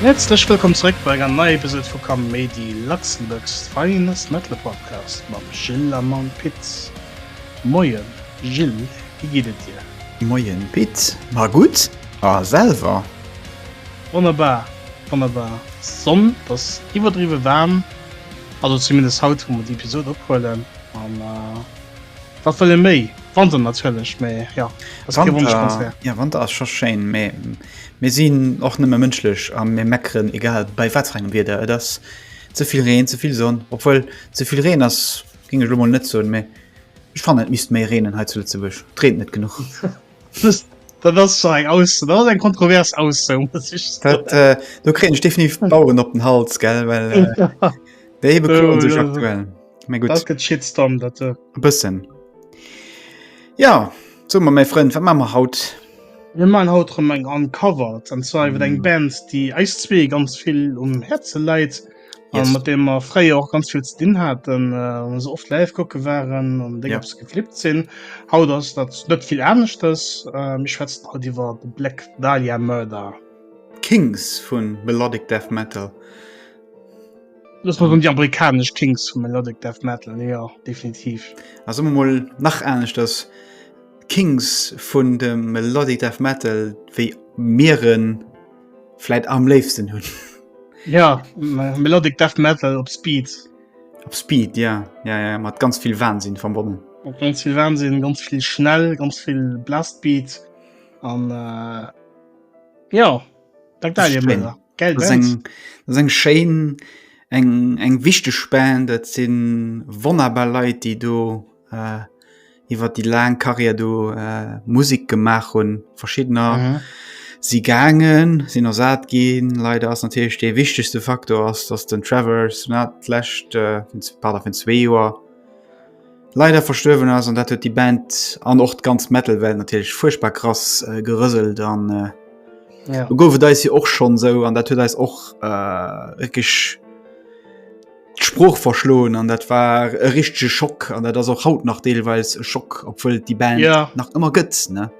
Häerzlech wëllkomm zeréck bei enger neier Episode vu Kaméidi, Luxembourg's finest metal podcast mam Gilles a mam Pit. Moien Gilles, wéi geet et dir? Moien Pit, ma gutt, a selwer? Wonnerbar, wonnerbar. D'Sonn ass iwwerdriwwe waarm, also zumindest haut wou mer déi Episode ophuelen an wat wëll ee méi? Wanter natierlech, mee jo, ass kee Wonschkonzert. Jo, Wanter ass scho schéin, mee mir sinn och nëmme mënschlech a mir meckeren egal bei wat fir engem Wieder. Et ass ze vill Reen, ze vill Sonn, obwuel ze vill Reen ass, géing ech elo mol net soen, mee ech fannen et misst méi reenen hei zu Lëtzebuerg, et reent net genuch. Dat ass eng aus eng kontrovers aus do kréint definitiv Bauuren op den Hals gell well Shitstorm dat äh. bëssen. Ja zo ma méi Frënn wat mammer haut. Mir man haut rem eng Uncovered an zwar iwwer eng Band déi eis zwee ganz vill um Häerze läit. yes. mat dem er fréier och ganz vill ze dinn hat se oft live kocke waren an ja. geflippt sinn haut ass dat net vill ernstcht ass mich schwätzt haut iwwer de Black Dalia Mörder Kings vun Melodic Death Metal Los mat um die amerikasch Kings vu Melodic Death Metal ja definitiv as ëmmer moll nach ernstnecht ass Kings vun dem Melodic Death Metal wéi Meerren Fläit am léifsten hunn. Ja Melodic Death Metal op Speed. Op Speed ja, ja, ja mat ganz vill Wahnsinn verbonnen. Op ganz vill Wahnsinn, ganz vill schnell, ganz vill Blastbeat an äh, ja Geld seng Schein eng eng wichteg Spen dat sinn wonnerbar Leiit déi do. Äh, iwwer die laang Karriere do äh, Musik gemacht hun verschiedener mhm. sie gangen sinn er saat gin leider ass natürlich de wichtigste Faktor ass dass den Travers netlächt äh, vun 2 Joer leider verstöwen ass an dat huet die Band an och ganz Metal Welt natürlich furchtbar krass äh, gerëselt an äh, ja. gouf da sie och schon so an dat huet eis och äh, d'Sprooch verschloen an dat war e richtige Schock an dat ass och haut nach deelweis e Schock obwuel die Band ja. nach immer gëtt ne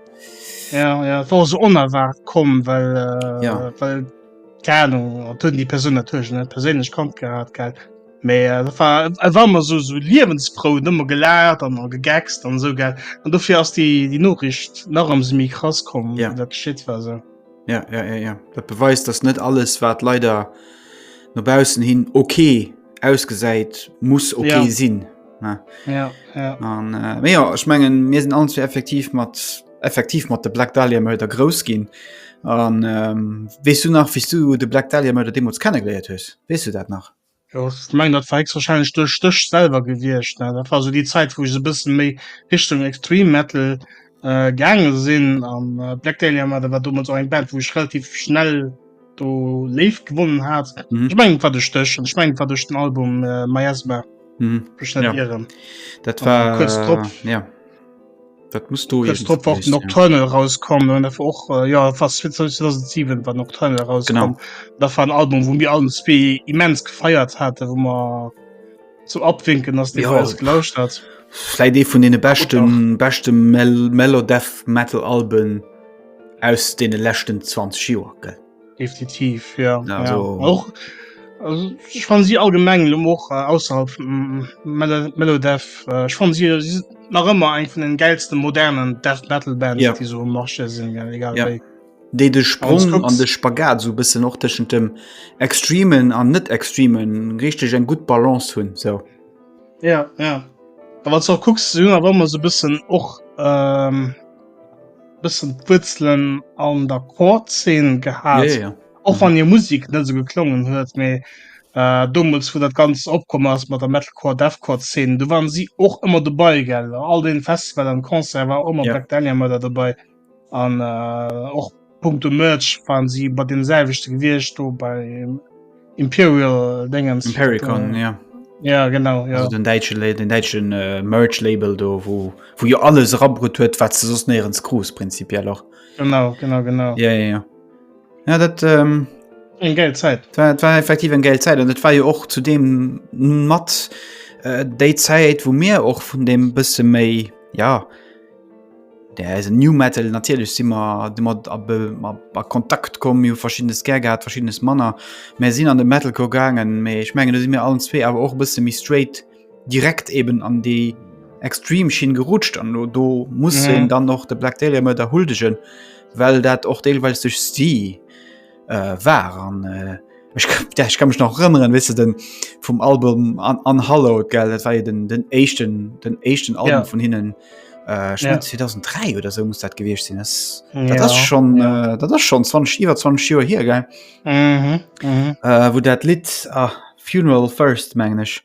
ja, ja, war so onerwart kom well äh, ja. well Ahnung, tun die Person natürlich net persinnlech kommt gehabt ge méi äh, war, äh, war man so so liewensfrou nëmmer gelert an an gegext an so ge an dofir ass die die Norricht nach am semi krass kom ja. dat geschit war se. So. Ja, ja, ja, ja. Dat beweist, dass net alles, wat leider no bausen hin okay ausgesäit, muss okay ja. sinn. Ja. Ja, ja. Und, äh, ja, ich mengen mir sind an effektiv mat effektiv mat de Black Dalia mei der grouss ginn. An ähm, wees du nach wie du de Black Dalia mei der Demos kennengeleiert hues? Wees du dat nach? Jo ech mengen dat war héchstwahrscheinlech duerch dech selwer gewiescht, ne? Dat war so déi Zäit, wou ech esou e bësse méi Richtung Extreme Metal äh, gaange sinn an äh, Black Dahlia Murder war domat och eng Band, wou ech relativ schnell do léif gewonnen hat. Mhm. Ech mengen et war duerch dech an ech mengen et war duerch den Album äh, Miasma, Mhm. ech net Ja. ieren. Dat An war kurz drop. äh, ja. Dat muss do Jetzt drauf warten, Nocturnal rauskommen und dafür auch, äh, ja, fast 2007 war Nocturnal rauskommen. Genau. Das war ein Album, wo wir allen zwei immens gefeiert hatten, wo man zum Abwinken, dass die ja. alles gelauscht hat. Vielleicht eh von den besten, besten Mel Mellow Death Metal Alben aus den letzten 20 Jahren, gell? Definitiv ja. Ja, also, ja. Auch, also, ich fand sie allgemeng och äh, ausserhalb mm, Melo Melodev äh, ich fand sie, sie nach immer eng von den geilsten modernen Death Metal Bands ja. die so marche sind ja, egal ja. Dé de Sprung an de Spagat so bisse noch tschen dem extremen an net extremen richtig eng gut Balance hunn so. Ja, ja. Aber kucks aber immer so bisschen och ähm, bëssen d'Wuerzelen an der Core-Zeen gehat. Ja, ja. Och wann hir Musik net esou geklongen huet, mee äh, domuts, wou dat ganz opkomm ass mat der Metalcore, Deathcore-Zeen, do waren si och ëmmer dobei, gell? All den Festival an Concert war och ëmmer ja. Black Dahlia Murder dobei an äh, och Punkto Merch waren si bei dem selwechte gewiescht do bei Imperial Dingens. Impericon, ja. Ja genau ja. den deitsche den deitschen äh, Merch Label do wo wo jo alles rabrut huet wat ze sos neierens Gros prinzipiell och genau genau genau ja ja ja, ja dat ähm, eng geld Zeit war, war effektiv eng geld Zeit an dat war jo och zu dem mat äh, déi Zeit wo mir och vun dem bësse méi ja Der eisen New Metal natierlech si mer domat a, a, a Kontakt komm, mir hu verschiddenes gär gehat, verschiddenes Manner. Mir sinn an de Metalcore gaangen, mee ech mengen do si mir allen zwee awer och e bësse méi straight direkt eben an déi extrem Schinn gerutscht an do, do muss een dann och de Black Dahlia Murder huldegen, well dat och deelweis duerch si. äh, war an äh, ich, ja, ich kann mich noch rëmmeren wisse den vum Album an, an Hallo gell dat war ja den den echten den echten Album ja. von hinnen äh, ja. 2003 oder so muss dat gewichtcht sinn das, ja. das, das schon ja. äh, das schon 20 iwwer 20 Joer hier ge mhm. mhm. äh, wo dat Lied ah, funeral first mengglisch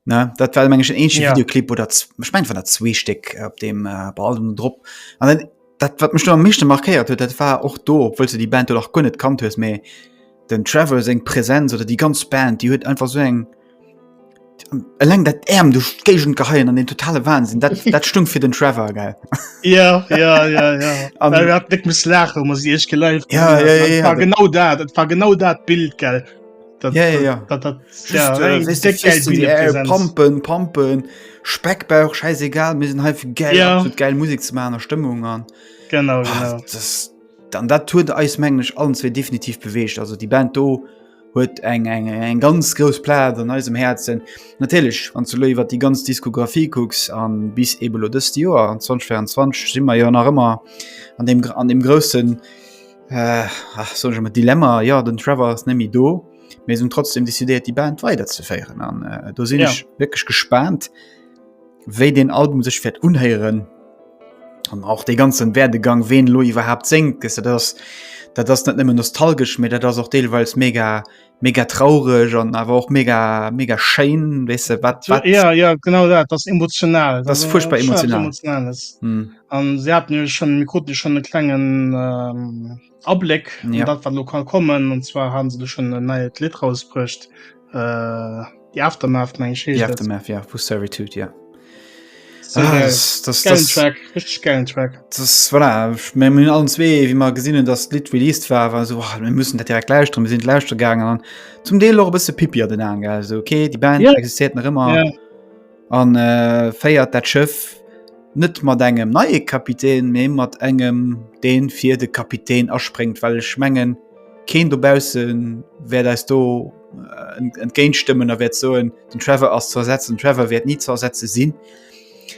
Ne? Dat war mengg en ja. Videoclip oder mech mein, der Zweesteck op dem äh, Ballem drop. An dann, dat wat mech am mischte markéiert huet, dat war och do, wëll se die Band och gun net kannt hues méi den Travel seg Präsenz oder die ganz Band, die huet einfach so eng Eleng dat Äm du Gegent geheien an den totale Wahnsinn dat, dat stung fir den Trevor ge ja, ja, ja, ja. um, net muss lachen muss ich gelive ja, ja, ja, ja, ja, genau dat war genau dat Bild gell Pampen Pampen Speckbauch scheiß egal mir sind halb geil ja. geil Musik zu meiner Stimmung an genau, Ach, genau. Das, dann dat tut eismänglisch allen zwei definitiv bewegt also die Band do huet eng eng eng ganz groß Pla an eisem Herzen natürlich an zu über die ganz Diskografie gucks an bis eben 2024 sind wir ja nach immer an dem an dem großen Äh, ach, soll ech emmer Dilemma, ja, den Trevor ass net méi do, mee se hunn trotzdem decidéiert, déi Band weiderzeféieren. An äh, do sinn Ja. ech wierklech gespaant, wéi den Album sech wäert unhéieren. An auch de ganzen Werdegang, ween elo iwwerhaapt séngt, gëss du, dat ass, dat ass net nëmmen nostalgesch, mee dat ass och deelweils mega mega traureg an awer och mega mega Schein wese wat, wat ja, ja genau dat das emotional das furchtbar emotional hm. an hm. se hat mir schon mir konnte schon den klengen ähm, Ableck ja. dat wat lokal kommen und zwar haben se schon neue Lit rausbricht äh, Die Aftermath meng ech heescht Aftermath, ja, vu Servitude ja. hun allen zwee wie mar gesinninnen dat Lit released war war so oh, müssen dat direkt lauscht drum sinn lauscht gegangen an zum Deel och bisse Pippi den an okay die Band ja. existiert nach immer. Ja. An féiert dat Schëff net mat engem neie Kapitän, mee mat engem, dee fir de Kapitän aspréngt. Well ech mengen, keen dobausse wäert eis do entgéintstëmmen a wäert soen, den Trevor ass ze ersetzen. Den Trevor wäert ni ze ersetze sinn.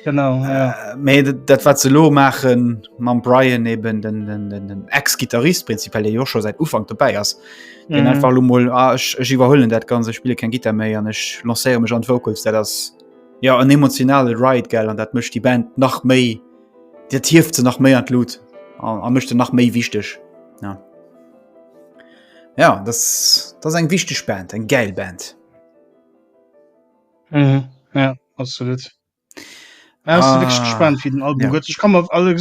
Genau, jo. Mee dat, wat se elo maache mam Brian, eben den Ex-Gittarist prinzipiell, dee jo scho säit Ufank dobäi ass, den mm. einfach mal ah, ich, ich überhöllen dat ganze spiele kein Gitter méi an ich lanceiere mech an Vocals der das ja an emotionale Ri gell an dat mischt die Band nach méi der tieft ze nach méi an Lut an mischte nach méi wichtig ja. ja das das eng wichtig Band eng geil Band mm. ja absolut Ah. gespannt wie den Album ja. ich kann alle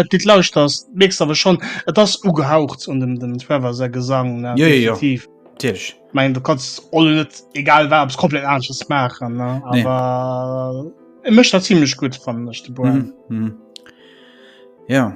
dit lauscht das nächst aber schon et das ugehaucht und dem dem Trevor sehr gesang ja, ja, ja. mein du kannst alle net egal war es komplett anders machen ne? aber nee. er äh, möchte ziemlich gut von mhm. mhm. ja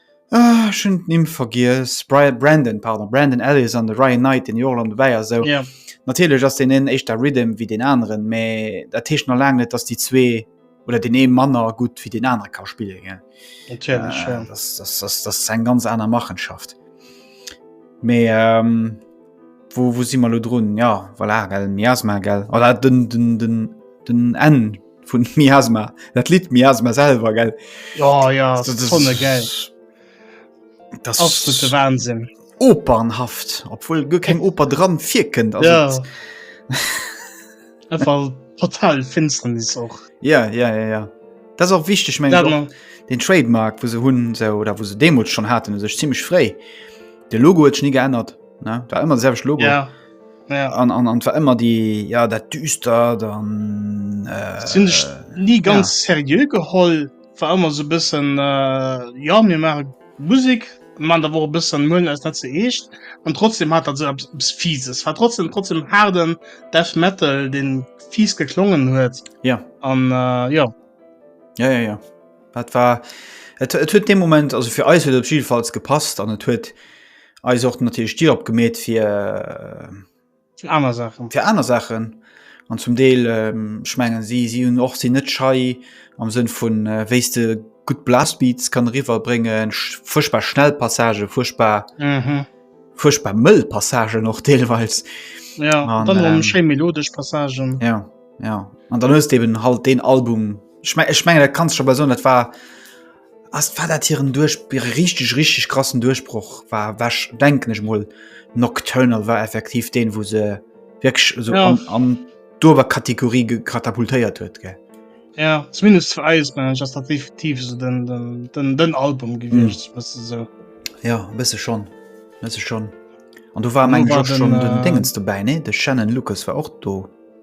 Ah, ech hunn d'Nimm vergiess. Brian, Brandon, pardon, Brandon Ellis an de Ryan Knight, deen jo och elo dobäi ass. Esou, Ja. natierlech ass deen een éischter Rhythm wéi den aneren, mä dat heescht nach laang net, dass déi zwee oder den ee manner gutt wéi den anere ka spillen, gell. Natierlech, Äh, ja. das, das, das, das ist eng ganz aner Machenschaft. Mee ähm, wo, wo si mer lo drun? Ja, voilà, gell, Miasma, gell, oder den, den, den, den N. vun Miasma dat Lied Miasma selber gell oh, ja, das, das, das, gell. Das, das, das Wahnsinn opernhaft obwohl du kein Oper dran vier Kind ja. einfach total finsteren ist auch ja ja ja ja das auch wichtig mein ja, den Trademark wo sie hun so oder wo sie Demut schon hatten sich ziemlich frei der Logo hat nie geändert ne? war immer selbst Logo ja. an war ëmmer déi ja dat düster dann äh, sinn ech nie ganz ja. serieux geholl war ëmmer so bëssen äh, ja mir mare Musik man da wo bëssen mën als net ze eescht an trotzdem hat dat se fieses war trotzdem trotzdem harden def metal den fies geklongen huet ja an äh, ja ja ja ja Dat war et huet de Moment also fir eis huet op jidefalls gepasst an et huet eis och natierlech Dir opgemeet fir äh, aner Sachen fir aner Sachen an zum Deel schmengen ähm, si si hunn och sinn net schei am Sënn vun äh, wéiste gutt Blastbeats kann riwer bréngen fuerchtbar schnell Passage fuerchtbar mhm. fuerchtbar mëll Passage noch deelweis ja, an, ähm, schéi melodesch Passagen ja, ja. an dann hues eben halt den Album. Ich mein, ich mein, dat kannst schon bei so net war as war dat hiieren duerch richtig richtig krassen Duerchbroch war wäch denken ech mo Nocturnal war effektiv den wo se wirklich so ja. an, an dober Kategorie katapultéiert huet ge. Ja zumindest für Eis man just dat definitiv so den, den, den, den Album gewicht mm. so. Ja bist schon bist schon an du war mein schon den, den äh, Dingens dabei ne de Shannon Lucas war auch do.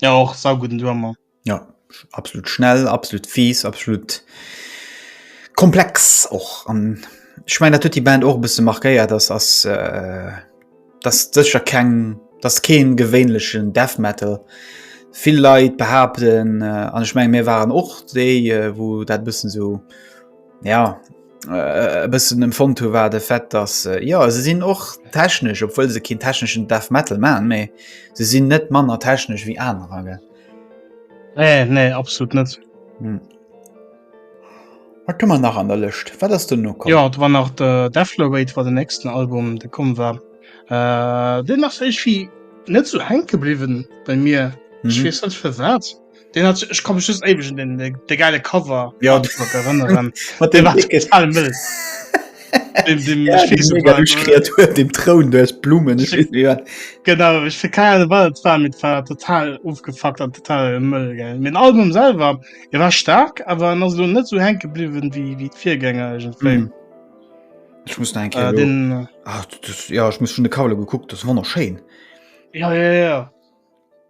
Ja och sau guten Drummer. Ja absolut schnell, absolut fies, absolut komplex och an ich mein dat huet die Band och bisse markéiert ass ass äh, das secher keng das keen gewéinlechen Death Metal. Vill Leit behaapten äh, an ich meng mir waren och déi äh, wou dat bëssen sou Ja e bëssen dem Fond hu war de Fett dass äh, ja se sinn och technesch, obwohl se kind techneschen Death Metal man méi se sinn net manner technesch wie anerer ge. Nee nee absolut net. Hm. Wat man nach an der Lëcht wat ass du no? Ja war nach de Deflowweight war den nächsten Album de kom war äh, Den nach sech wie net zu so henke bliwen bei mir. Mhm. Ich weiß nicht für was. Den hat, ich komme just ewig in den, den, den geile Cover ja. erinnern. Mit dem war total mild. dem, dem, ja, ich weiß mega Kreatur, dem Thron durch Blumen. Ich, ich, ja. Genau, ich will keine Ahnung, was war mit war total aufgefuckt und total Müll. Gell. Mein Album selber, er war stark, aber noch so nicht so hängen geblieben wie, wie die Viergänger. Irgendwie. Mhm. Ich muss denken, äh, den, äh, Ach, das, ja, ich muss schon eine Kavle geguckt, das war noch schön. Ja, ja, ja.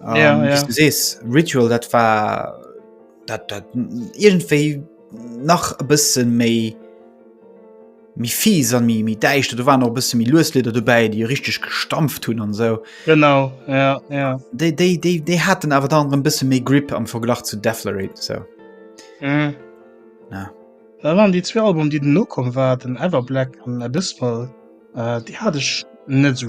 Um, ja, ähm, ja. Du sees Ritual dat war dat, dat irgendwéi nach e bësse méi mi fies an mi mi deicht du waren noch bësse mi losleder dobäi déi richtig gestampft hunn an so genau ja, ja. déi déi déi déi hat den awer dann en bësse méi grip am verglach zu deflerit so mm. ja. da waren die zwei album die den nokom war den ever black an abysmal äh, die hat ich net so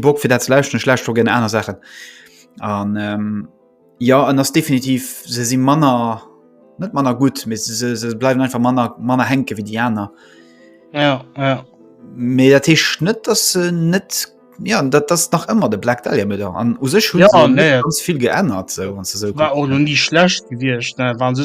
Bock fir dat lauschten schlecht gen aner Sachen an ähm, ja an ass definitiv se si manner net manner gut miss se, se bleiwen einfach manner manner henke wie die aner ja, ja. me dat hi net dat se net ja dat das nach ëmmer de black da mit an u sech hun ja, nee. ganz viel geändert so, so war nie schlecht gewircht waren se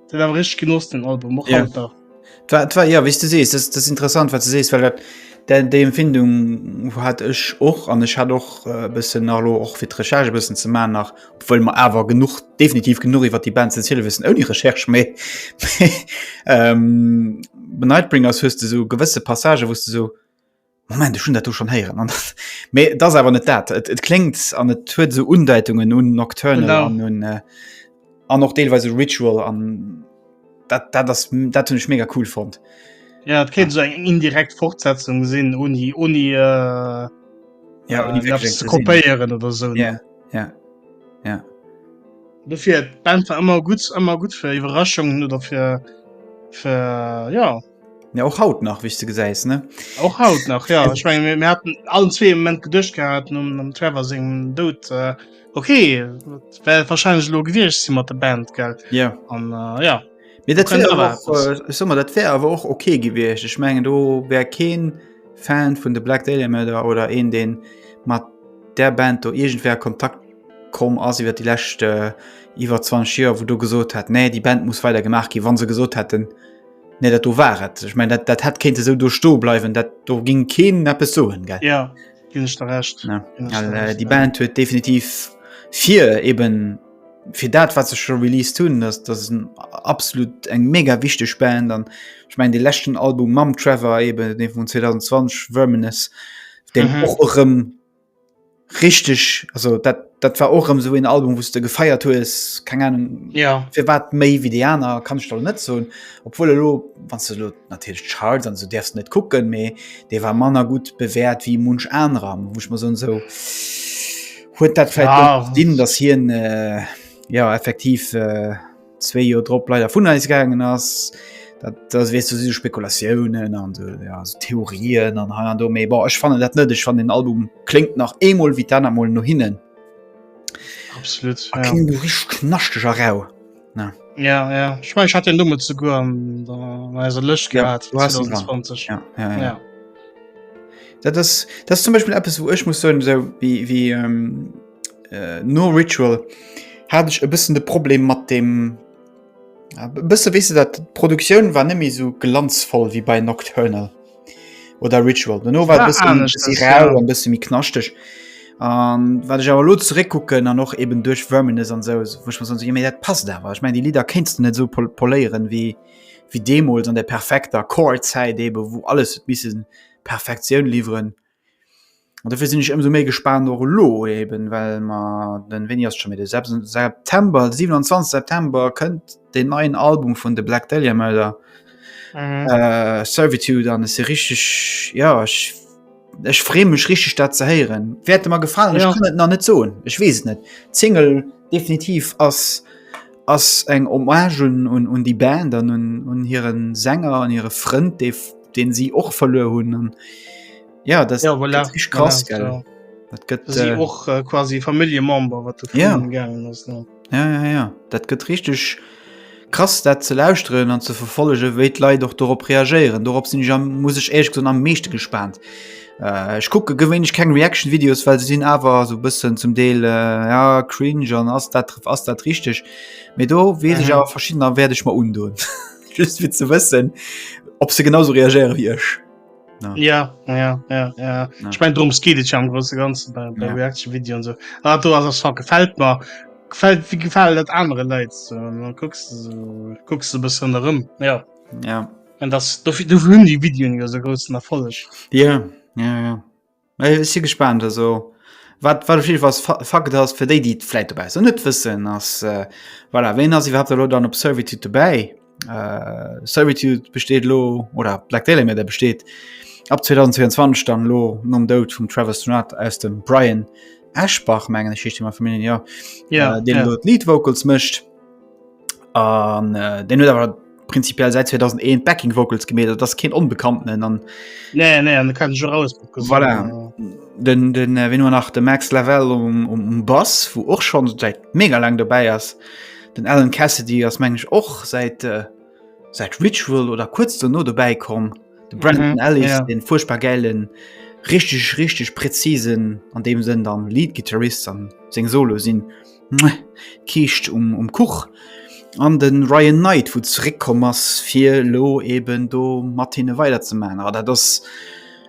Den awer rich genoss den Album och ja. Alter. Twa, twa, ja wis du sees das, das interessant wat ze sees well dat de Empfindung hat ech och an ech hat och äh, bëssen allo och fir d'Recherche bëssen ze ma nach wëll man awer genug definitiv genug iwwer die Band ze ziele wëssen ou die Recherche méi ähm, Benightbringers hues du so gewësse Passage wost du so Moment, ech hunn dat do schonn héieren. An mee et ass awer net dat. Et, et kléngt an et huet esou Undeitungen un Nocturnal Genau. an un äh, an och deelweise Ritual an dat dat ass dat hunn ech mega cool fonnt. Ja, et kéint so eng indirekt Fortsetzung sinn, uni, uni äh, Ja, äh, uni wirklich eppes eng ze Cousine. kopéieren oder sou. Ja, ja, ja. Dofir, d'Band war ëmmer gutt, ëmmer gutt fir Iwwerraschungen oder fir, fir ja, Ja, och haut nach wich ze gesäis ne och haut nach ja ich mein, mir hatten allen zwee moment gedcht gehabt um am Trevor se dot äh, okay well wahrscheinlich lo gewircht si mat der Band gell ja an äh, ja mir dat äh, sommer dat wär awer och okay gewircht ich mengen do wär keen Fan vun de Black Daily Mörder oder een den mat der Band do irgendwer kontakt kom ass iwwer die lächte äh, iwwer 20 Joer wo du gesot hat nee die Band muss weiter gemacht gi wann se gesot hätten Nee, dat do war et. Ech mein, dat, dat hätt kéinte sou do sto bleiwen, dat do ging keen neppes soen gell. Ja ginn ech der recht. Ja. Ginn ech Well, der äh, recht, déi ja. Band huet definitiv fir eben fir dat wat sech schon released hunn dass das ist ein absolut eng mega wichteg Band an ich mein de lächten Album mam Trevor eben den vun 2020 Verminus den Mhm. och erëm Richteg, also dat dat war och ëm sou een Album wouste gefeiert hues, keng Ahnung ja. fir wat méi wéi déi aner kann ech der net soen, obwuel elo wann se lo natierlech d'Charts an sou däerfs net kucken, mee dee war manner gutt bewäert wéi munch anerer, wou ech mer soen sou huet dat vläicht Ah. dinn, datt hien äh, ja effektiv äh, zwee Joer drop leider vun eis gaangen ass. Dat, das wees du si Spekulatiounen an so, ja, so Theorien an ha an do méi bar ech fanne dat net ech fan den Album klingt nach emol wie dann amol no hinnen absolut ah, ja. rich knaschteg a rau na ja ja ich mein, ich hat den Nummer zu go an der Lëch gehabt ja, 2020 ja, ja, ja. ja. Dat, das, das zum Beispiel App wo ech muss so, so wie, wie ähm, äh, no Ritual hat ech e bëssen de Problem mat dem äh, bësse wese dat Produktioun war nëmi so glanzvoll wie bei Nocturnal oder Ritual no war bësse mi knaschteg. Um, wat ech awer lo zeréckkucken an och eben duerch Wëmenes an sou woch man méi dat passt awer. Ech mein Di Lider kenst du net so pol poléieren wéi wéi Demols an der perfekter Chorzäit ebe wou alles missen Perfektioun liwweren. An dofir sinn ech ëmsou méi gespaant och elo eben, well mer den, wéini ass et scho méi, de 7 September, 27 September kënnt deen neien Album vun de Black Dahlia Murder, Servitude an ech si richteg, jo ech, ech free mech richteg dat ze héieren. Wäerte mer gefalen, ech kann et nach net soen, ech weess et net. D'Single. Definitiv ass ass eng Hommage un un déi Band an un un hiren Sänger an hire Frënd, dee deen si och verluer hunn an ja dat Ja, voilà, gëtt rich krass voilà, gell. ja. Dat gëtt Si äh, och äh, quasi Familljemember, wat du Ja. virun gaangen ass. Ne? ja, ja, ja. Dat gëtt richteg Krass dat ze lauschteren an ze verfollegen, wéi d'Leit och dorop reagéieren. Dorop sinn ech am, muss ech éierlech gesoen, am meeschte gespaant. Äh, ech kucke gewéinlech keng Reaction Videos, well se sinn awer esou e bëssen zum Deel äh, ja, cringe an ass dat, ass dat richteg? Mee do weess ech Mhm. awer verschiddener wäert ech mer undoen. Just fir ze wëssen, ob se genau esou reagéiere wéi ech. Ja. Ja, ja, ja, ja. Ich mein drum geht ich am große ganze bei, bei ja. Reaction Video und so ah, du hast das gefällt mir gefällt wie gefällt das andere Leute so. dann guckst du so, guckst du bisschen darum ja ja und das du, du die Videos ja so großen Erfolg ja ja ja Mä ech si gespaant. Also wat wat op jidde Fall Fa Fakt ass, fir déi, déi et vläicht dobaussen net wëssen, ass, äh, voilà, wien ass iwwerhaapt elo dann op Servitude dobäi? Äh, Servitude besteet elo, oder Black Dahlia Murder besteet ab 2022 dann elo nom Doud vum Trevor Strnad aus dem Brian Eschbach, mengen ech, heescht dee mam Familljen, jo, äh, deen elo d'Lead Vocals mécht. an äh, den huet awer prinzipiell seit 2001 backing vocals gemet das kind unbekannten dann nee, nee, kann ich raus voilà. den, den äh, wenn nur nach der max level um, um, um bass wo auch schon seit mega lang dabei ist den allen kasse die das meng ich auch seit äh, seit ritual oder kurz nur dabei kommen den brandon mhm, Ellis, ja. den furchtbar geilen richtig richtig präzisen an dem sind dann lead gitarrist an sing solo sind und d'Kiischt um Kuch an de Ryan Knight wou zréck komm ass fir elo eben do mat hinne weider ze man a dat ass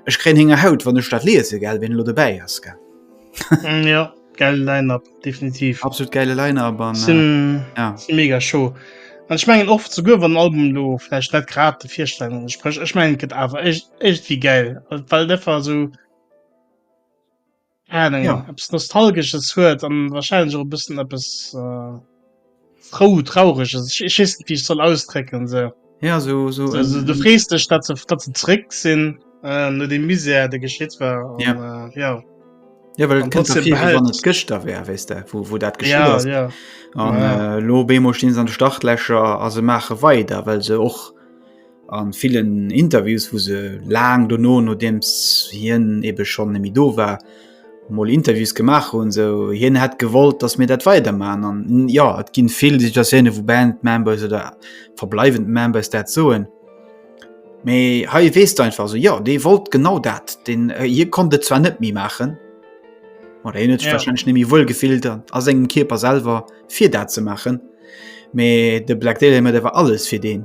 ech kréien henger haut wann ech dat liese gell ween elo dobäi ass gell ja geile Line-up definitiv absolut geile Line-up an äh, sinn ja. sinn mega show an ich mengen oft souguer wann Album lo vielleicht net grad de Virstellungen entsprech ich mengen gëtt awer echt echt wie geil weil deffer so Ja. Eppes Nostalgesches huet an wahrscheinlech och e bëssen eppes äh, frou traureg ass. Ich wees net wie ich soll ausdrécken se. Ja so, so, so, so du frees dech dat ze dat ze zréck sinn äh, no de Misär de geschitt war an, ja. Äh, ja. Ja, well net Gëchter wär wéis der wo, wo dat ja, ja. ja. äh, lo Bemo stinn an de Startlächer a se mache weider well se och an vielen Interviews wo se laang dono no dems hien ebe schon nemi do war moll Interviews gemacht hun so hien hat gewollt dass mir dat weiter man an ja et ginn vill sich das hinne wo Band Members oder verbleiwend Members dat soen méi ha wees einfach so ja dee wollt genau dat den äh, hier kon de zwar net mi machen oder hin ja. wahrscheinlich nemi wohl gefillt an as engem Kierper selber fir dat ze machen méi de Black Dale immer der war alles fir den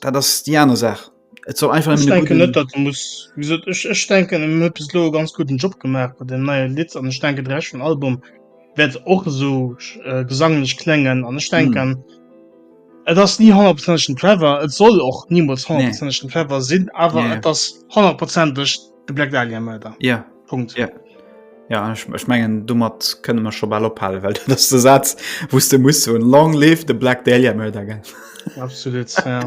Dat ass déi aner Saach. Et soll einfach ech denken net dat muss ech denken um hue bis lo ganz guten Job gemacht bei dem neue Liz an denke dreschen Album werd och so äh, gesanglech klengen an ech denken hm. Et ass nie 100 Trevor et soll och niemals 100 nee. Trevor sinn awer nee. das 100 Prozent De Black Dahlia Murder. Ja. Punkt. Ja. Ja, ich, ich mengen domat kënne man schon ball ophalen, well dat ass de Saz wou s de muss hunn long live de Black Dahlia Murder gell. Absolut ja.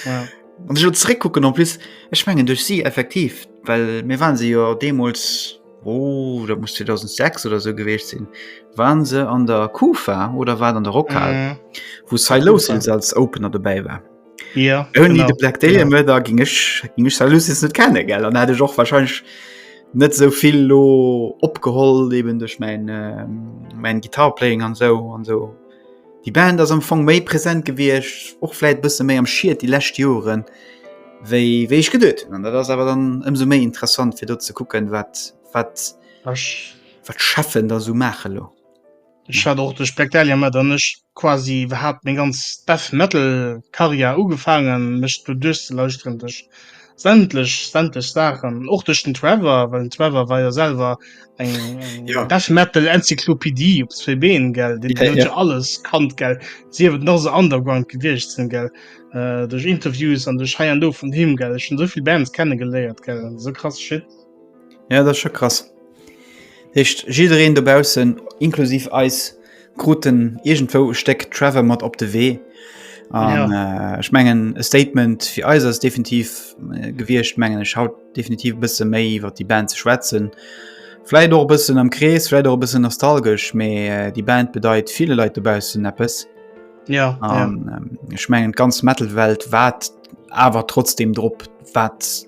Ja. An sech zeréckkucken an plus ech mengen duerch si effektiv, well mir waren se jo deemools oh, dat muss 2006 oder so gewiescht sinn, waren se an der Kufa oder wat an der Rockhal, Mhm. wou Cy Kufa. Lowsils als Opener dobäi war. Ja, Only the Black Day ja. da ging ich, ging ich net kennen gell dann hätte ich auch wahrscheinlich net so viel lo opgeholt eben durch mein ähm, mein Gitarplaying an so an so die Band das am Fong méi präsent gewircht och vielleicht bist méi am schiiert die letzte Joren wéi wéi ich gedet an das aber dann ëmso méi interessant fir dort zu gucken wat wat wat schaffen da so mache lo Ech hat och de Spectalia mat an ech quasi hat meng ganz Death Metal Karriär ugefaangen mech do duerchzelauschteren duerch sämtlech sämtlech Saachen och duerch den Trevor, well den Trevor war jo selwer eng ja. Death Metal Enzyklopädie op zwee Been gell Di ja, ja. alles kannt gell si huet nach se Underground gewiecht sinn gell äh, duerch Interviews an duerch hei an do vun him gell schon sovill Bands kennengeléiert gell so krass shit. Ja dat scho krass. Heescht jiddereen dobaussen inklusiv eis kruten irgendwou Steck Trevor mat op de Wee. An ja. äh, schmengen e Statement fir eis ass definitiv äh, gewircht mengen ech haut definitiv bësse méi iwwer die Band ze schwätzen. Fläit och bëssen am Krees, fläit och bëssen nostalgesch, méi äh, die Band bedeit viele Leiit dobaussen Appppes. Ja, um, ja. Ähm, schmengen ganz Metalwelt wat awer trotzdem drop wat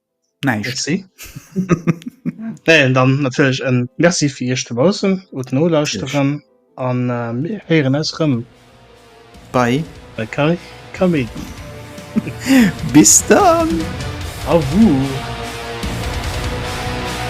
Näischt. Merci. Dann natierlech e Merci fir Iech dobaussen ut nolauschteren an mir héieren eis rëm bei Kaméidi. Bis dann! Au revoir!